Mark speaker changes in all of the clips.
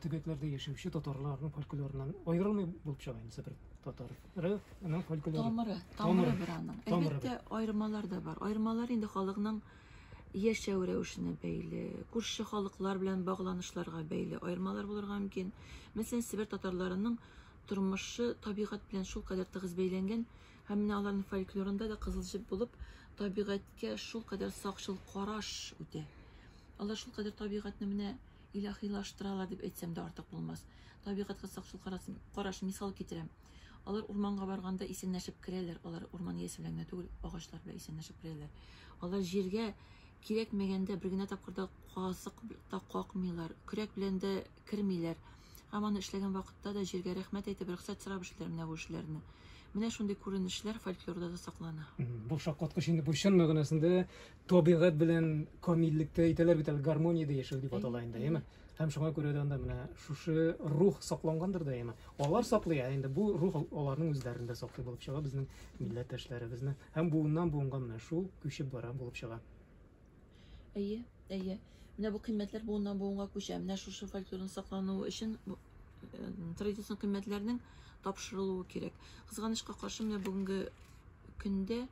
Speaker 1: төбәкләрдә яшәүче татарларның фольклорыннан аерылмый булып чыга инде Себер татары. Ры, аның фольклоры. Тамыры, тамыры бер аның.
Speaker 2: Әлбәттә, аермалар да бар. Аермалар инде халыкның яшәү рәвешенә бәйле, күрше халыклар белән багланышларга бәйле аермалар булырга мөмкин. Мәсәлән, Себер татарларының тормышы табигать белән шул кадәр тыгыз бәйләнгән, һәм менә аларның фольклорында да кызыл җеп булып, табигатькә шул кадәр сакчыл караш үтә. Алар шул кадәр табигатьне менә илаһилаштыралар дип әйтсәм дә артык булмас. Табигатькә сакчыл караш мисал китерәм. Алар урманга барганда исәнләшеп керәләр, алар урман иясе белән генә түгел, агачлар белән исәнләшеп керәләр. Алар җиргә кирәкмәгәндә бер генә тапкыр да казык та какмыйлар, көрәк белән дә кермиләр. Һәм аны эшләгән вакытта да җиргә рәхмәт әйтеп, рөхсәт сорап эшлиләр менә бу эшләрне. Менә шундый күренешләр фольклорда да саклана. Бу шаккаткыч
Speaker 1: инде, бу чын мәгънәсендә табигать белән камиллектә әйтәләр бит әле гармониядә яшәү дип атала инде, әйеме? Һәм шуңа күрә дә анда менә шушы рух саклангандыр да, әйеме? Алар саклый, ә инде бу рух аларның үзләрендә саклый булып чыга безнең милләттәшләребезне. Һәм буыннан буынга менә шул күчеп бара булып чыга.
Speaker 2: Әйе, әйе. Менә бу кыйммәтләр буыннан буынга күчә. Менә шушы фольклорның саклануы өчен э, традицион кыйммәтләрнең тапшырылуы кирәк. Кызганычка каршы, менә бүгенге көндә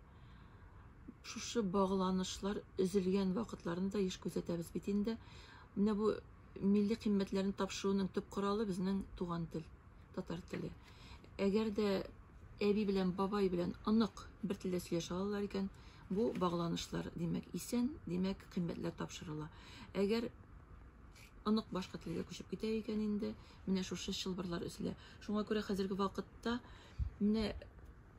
Speaker 2: шушы багланышлар өзелгән вакытларны да еш күзәтәбез бит инде. Менә бу милли кыйммәтләрне тапшыруның төп коралы безнең туган тел, татар теле. Әгәр дә әби белән бабай белән онык бер телдә сөйләшә алалар икән, бу багланышлар, димәк, исән, димәк, кыйммәтләр тапшырыла. Әгәр онык башка телгә күчеп китә икән инде, менә шушы чылбырлар өзелә. Шуңа күрә хәзерге вакытта менә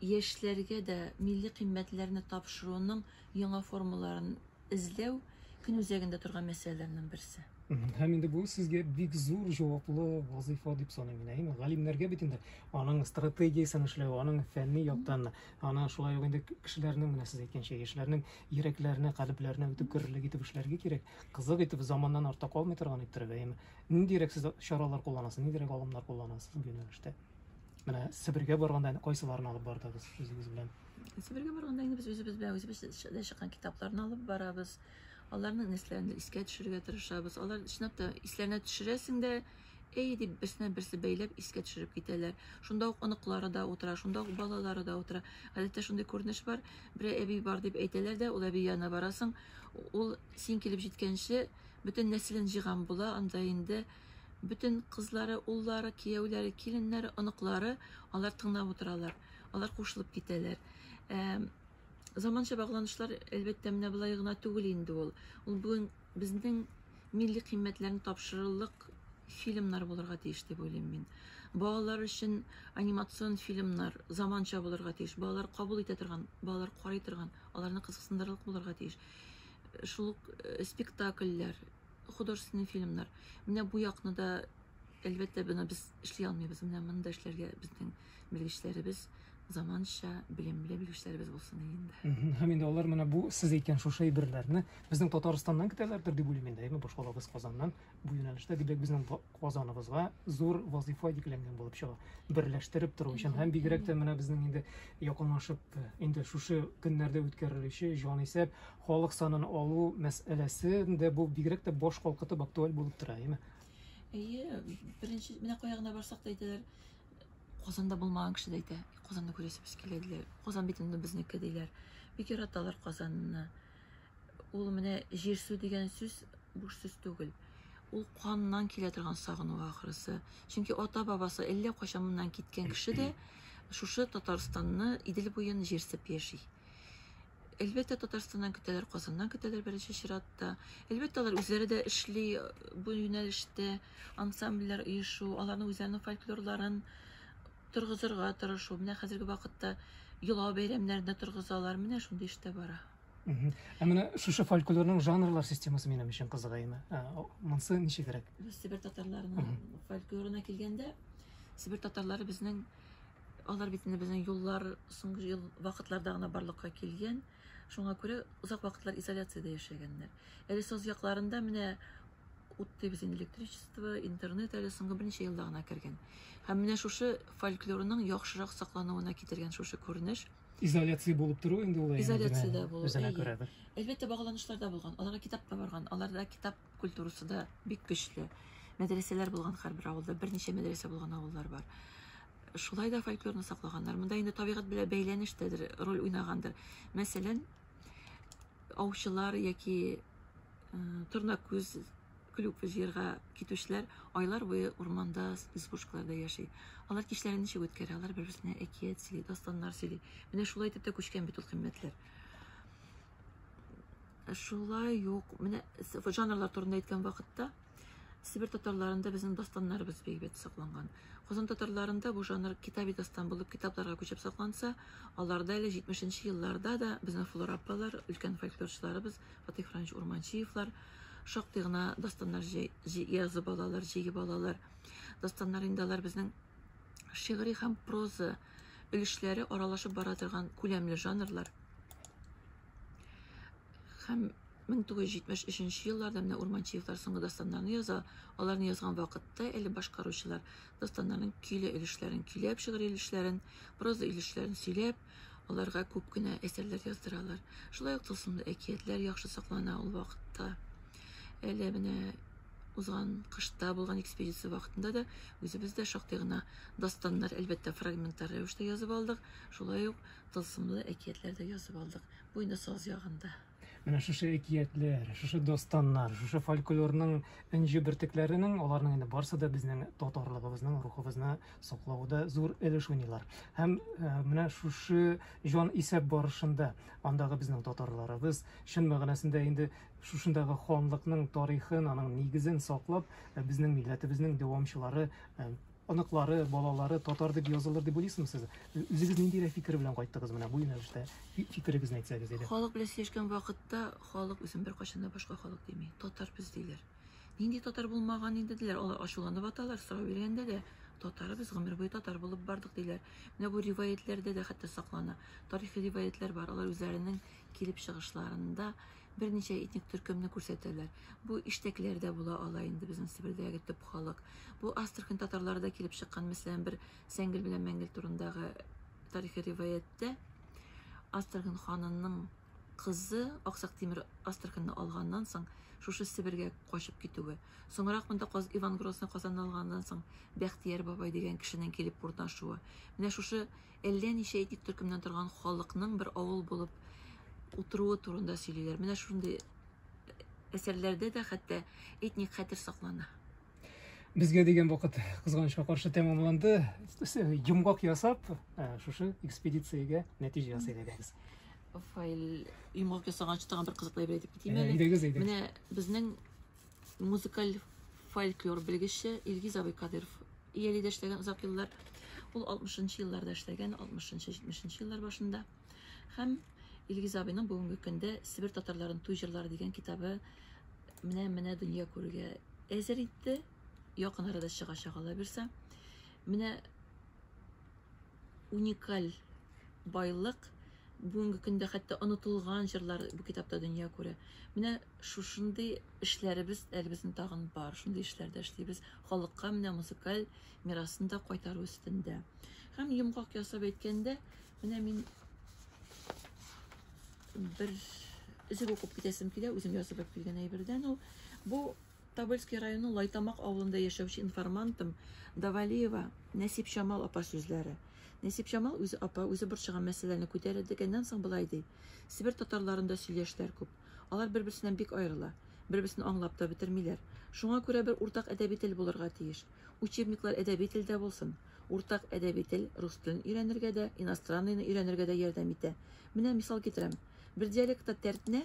Speaker 2: яшьләргә дә милли кыйммәтләрне тапшыруның яңа формаларын эзләү көн үзәгендә торган мәсьәләләрнең берсе. Һәм инде бу
Speaker 1: сезгә бик зур җаваплы вазыйфа дип саныйм мин. Әйме, галимнәргә бит инде аның стратегиясен эшләү, аның фәнни яктан, аны шулай ук инде кешеләрнең, менә сез әйткәнчә, яшьләрнең йөрәкләренә, калебләренә үтеп керерлек итеп эшләргә кирәк. Кызык итеп, заманнан артта калмый торган иттереп, әйме. Ниндирәк сез чаралар кулланасыз, ниндирәк алымнар кулланасыз бу юнәлештә? Менә Себергә барганда әнә кайсыларын алып бардыгыз үзегез белән? Себергә барганда инде
Speaker 2: без үзебез белән үзебез дә чыккан китапларны алып барабыз. Аларның нәрсәләрен искә төшерергә тырышабыз. Алар чынлап та исләренә төшерәсең дә, әй дип берсенә берсе бәйләп искә төшереп китәләр. Шунда ук оныклары да утыра, шунда ук балалары да утыра. Гадәттә шундый күренеш бар. Бер әби бар дип әйтәләр дә, ул әби янына барасың. Ул син килеп җиткәнче бөтен нәселен җыйган була, анда инде Бөтен кызлары, уллары, кияүләре, киленнәре, оныклары алар тыңлап утыралар. Алар кушылып китәләр. Ә, заманча багланышлар, әлбәттә, менә болай гына түгел инде ул. Ул бүген безнең милли кыйммәтләрне тапшырырлык фильмнар булырга тиеш дип уйлыйм мин. Балалар өчен анимацион фильмнар заманча булырга тиеш. Балалар кабул итә торган, балалар карый торган, аларны кызыксындырырлык булырга тиеш. Шул ук э, спектакльләр, художественный фильмнар. Менә бу якны да әлбәттә бына без эшли алмыйбыз. Менә моны да эшләргә безнең белгечләребез заманча белемле белгечләребез булсын инде. Һәм инде алар менә бу
Speaker 1: сез әйткән шушы әйберләрне безнең Татарстаннан көтәләрдер дип уйлыйм инде, әйме башкалабыз Казаннан бу юнәлештә дибәк безнең Казаныбызга зур вазифа йөкләнгән булып чыга. Берләштереп тору өчен һәм бигрәк тә менә безнең инде якынлашып инде шушы көннәрдә үткәрелүче җанисәп Халык санын алу мәсьәләсе дә бу бигрәк тә баш калкытып актуаль булып тора, әйеме? Әйе,
Speaker 2: беренче, менә кая гына барсак та әйтәләр, Казанда булмаган кеше дә әйтә, Казанны күрәсебез килә диләр. Казан бит инде безнеке диләр. Бик яраталар Казанны. Ул менә җир су дигән сүз буш сүз түгел. Ул каннан килә торган сагыну ахрысы. Чөнки ата-бабасы әллә кайчан моннан киткән кеше дә шушы Татарстанны, Идел буен җирсеп яши. Әлбәттә, Татарстаннан көтәләр, Казаннан көтәләр беренче чиратта. Әлбәттә, алар үзләре дә эшли э, бу юнәлештә, ансамбльләр оешу, аларның үзләренең фольклорларын торгызырга тырышу. Менә хәзерге вакытта йола бәйрәмнәрендә торгызалар, менә шундый эштә бара. Ә менә
Speaker 1: шушы фольклорның жанрлар системасы минем өчен кызыгайны. Ә, Монсы ничегрәк? Сибир татарларының
Speaker 2: фольклорына килгәндә, Сибир татарлары безнең Алар бит инде безнең юллар соңгы ел вакытларда гына барлыкка килгән. Шуңа күрә озак вакытлар изоляциядә яшәгәннәр. Әле соз якларында менә ут дибез инде электричество, интернет әле соңгы берничә елда гына кергән. Һәм менә шушы фольклорның яхшырак саклануына китергән шушы күренеш. Изоляция булып
Speaker 1: тору инде ул. Изоляциядә булу. Үзенә
Speaker 2: күрәдер. Әлбәттә, багланышларда булган. Аларга китап та барган. Аларда китап культурасы да бик көчле. Мәдрәсәләр булган һәрбер авылда, берничә мәдрәсә булган авыллар бар. Шулай да фольклорны саклаганнар. Монда инде табигать белән бәйләнештәдер, роль уйнагандыр. Мәсәлән, аучылар яки э, торна күз клюк җыярга китүчеләр айлар буе урманда, избушкаларда яши. Алар кичләрен ничек үткәрә? Алар бер-берсенә әкият сөйли, дастаннар сөйли. Менә шулай итеп тә күчкән бит ул кыйммәтләр. Шулай юк. Менә жанрлар турында әйткән вакытта Сибир татарларында безнең дастаннарыбыз бик сакланган. Казан татарларында бу жанр китаби дастан булып китапларга күчеп сакланса, аларда әле 70-нче елларда да безнең Флора апалар, өлкән фольклорчыларыбыз Фатих Франч Урманчиевлар шактый гына дастаннар язып алалар, җыеп алалар. Дастаннар инде алар безнең шигъри һәм проза өлешләре аралашып бара торган күләмле жанрлар һәм 1973 елларда менә Урманчиевлар соңгы дастаннарны яза. Аларны язган вакытта әле башкаручылар дастаннарның көйле өлешләрен көйләп, шигырь өлешләрен, проза өлешләрен сөйләп, аларга күп кенә әсәрләр яздыралар. Шулай ук тылсымлы әкиятләр яхшы саклана ул вакытта. Әле менә узган кышта булган экспедиция вакытында да үзебез дә шактый гына дастаннар, әлбәттә, фрагменттар рәвештә язып алдык. Шулай ук тылсымлы әкиятләр дә язып алдык. Бу инде саз ягында. Менә шушы
Speaker 1: әкиятләр, шушы дастаннар, шушы фольклорның энҗе бөртекләренең, аларның инде барсы да безнең татарлыгыбызның, рухыбызны саклауда зур өлеш уйныйлар. Һәм э, менә шушы җан исәп барышында андагы безнең татарларыбыз чын мәгънәсендә инде шушындагы ханлыкның тарихын, аның нигезен саклап, э, безнең милләтебезнең дәвамчылары, э, оныклары, балалары татар дип язылыр дип уйлыйсызмы сез? Үзегез ниндирәк фикер белән кайттыгыз менә бу юнәлештә? Фикерегезне әйтсәгез иде. Халык белән сөйләшкән вакытта
Speaker 2: халык үзен беркайчан да башка халык дими. Татар без диләр. Нинди татар булмаган инде диләр. Алар ачуланып аталар, сорау биргәндә дә татар без гомер буе татар булып бардык диләр. Менә бу риваятьләрдә дә хәтта саклана. Тарихи риваятьләр бар. Алар үзләренең килеп чыгышларында берничә этник төркемне күрсәтәләр. Бу иштәкләр дә була ала инде безнең Себердәге төп халык. Бу Астрахань татарлары да килеп чыккан, мәсәлән, бер Сәңгел белән Мәңгел турындагы тарихи риваяттә Астрахань ханының кызы Аксак Тимер Астраханьны алганнан соң шушы Себергә качып китүе. Соңрак монда Каз Иван Грозный Казанны алганнан соң Бәхтияр бабай дигән кешенең килеп урнашуы. Менә шушы әллә ничә этник төркемнән торган халыкның бер авыл булып утыруы турында сөйлиләр. Менә шундый әсәрләрдә дә хәтта этник хәтер саклана. Безгә
Speaker 1: дигән вакыт кызганычка каршы тәмамланды. Йомгак ясап, ә, шушы экспедициягә нәтиҗә ясый дигәбез. Файл
Speaker 2: йомгак ясаганчы тагын бер кызыклы әйбер әйтеп китим Ә, әле. әйдәгез, әйдәгез. Менә безнең Музыкаль фольклор белгече Илгиз абый Кадыров ияле дә эшләгән озак еллар. Ул 60-нчы елларда эшләгән, 60-70-нче еллар башында. Һәм Илгиз абыйның бүгенге көндә Себер татарларын туй җырлары дигән китабы менә менә дөнья күрергә әзер инде. Якын арада чыгачак ала бирсә. Менә уникаль байлык. Бүгенге көндә хәтта онытылган җырлар бу китапта дөнья күрә. Менә шушындый эшләребез әле безнең тагын бар. Шундый эшләрдә эшлибез. Халыкка менә музыкаль мирасын да кайтару өстендә. Һәм йомгак ясап әйткәндә, менә мин бер өзек укып китәсем килә, үзем язып алып килгән әйбердән ул. Бу Тобольский районы Лайтамак авылында яшәүче информантым Давалиева Нәсипҗамал апа сүзләре. Нәсипҗамал үзе апа, үзе борчыган мәсьәләне күтәрә дигәннән соң болай ди. Себер татарларында сөйләшләр күп. Алар бер-берсеннән бик аерыла. Бер-берсен аңлап та бетермиләр. Шуңа күрә бер уртак әдәби тел булырга тиеш. Учебниклар әдәби телдә булсын. Уртак әдәби тел рус телен өйрәнергә дә, иностранныйны өйрәнергә дә ярдәм итә. Менә мисал китерәм. Бер диалектта тәртнә,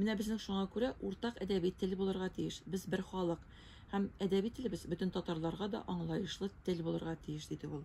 Speaker 2: Менә безнең шуңа күрә уртак әдәби тел булырга тиеш. Без бер халык. Һәм әдәби телебез бөтен татарларга да аңлаешлы тел булырга тиеш, диде ул.